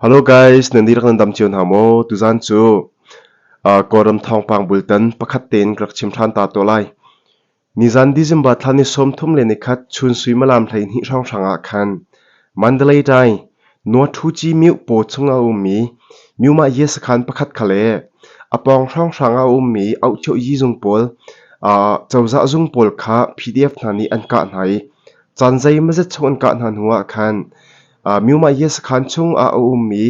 Hello guys, nan dihlak nan dam cio hna maw? Tuzan cu uh, Kawlram thawngpang bultan pakhat tein ka rak chim ṭhan ta to lai. Nizan December thla ni sawmthum le nikhat chun suimalam hlei hnih hranghrang ah khan Mandalay dai Nuathuci miu paw chung a ummi miuma ye sakhan pakhat khale apawng hranghrang a ummi auhchio yi zung pawl uh, cozah zung pawl kha PDF hna nih an kah hna i Caan zeimazet chung an kah hna hnuah khan Myumaiya sakhan chungah a um i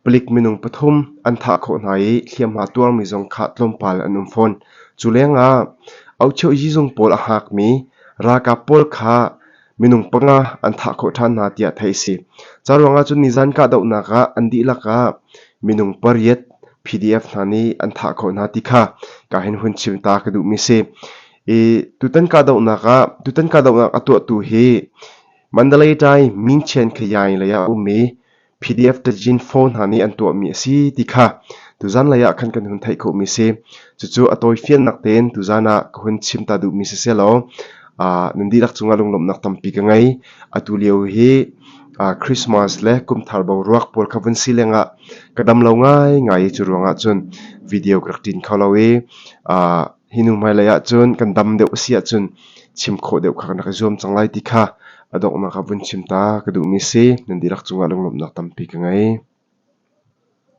palik minung pathum an thah khawh hna i hliamhma tuarmi zong khah tlawmpal an um fawn. Cu lengah Auchio Yizung pawl a haakmi ralkap pawl kha minung panga an thah khawh ṭhan hna tiah theih a si. Ca ruangah cun nizan kahdohnak ah an dihlak ah minung pariat PDF hna nih an thah khawh hna ti kha ka hin hun chim ta ka duhmi si. I tutan kahdohnak ah tutan kahdohnak a tuahtu hi Mandalay-Thai mingchian khayai lei ah a um i PDF tajin phone hna nih an tuahmi a si ti kha tuzan lei ah khan kan hun theih khawhmi si cucu a tawifiannak tein tuzan ah ka hun chim ta duhmi si selaw uh, nan dihlak cungah lunglawmhnak tampi ka ngei atu lio hi uh, Christmas le kumthar boruak pawl kha vun si lengah ka dam lo ngai ngai cu ruangah cun video ka rak tin kho lo i uh, hi nu hmailei ahcun kan dam deuh a si ahcun chim khawh deuh kha kan rak i zuam cang lai ti kha a donghnak ah vun chim ta ka duhmi a si nan dihlak cungah lunglawmhnak tampi ka ngei.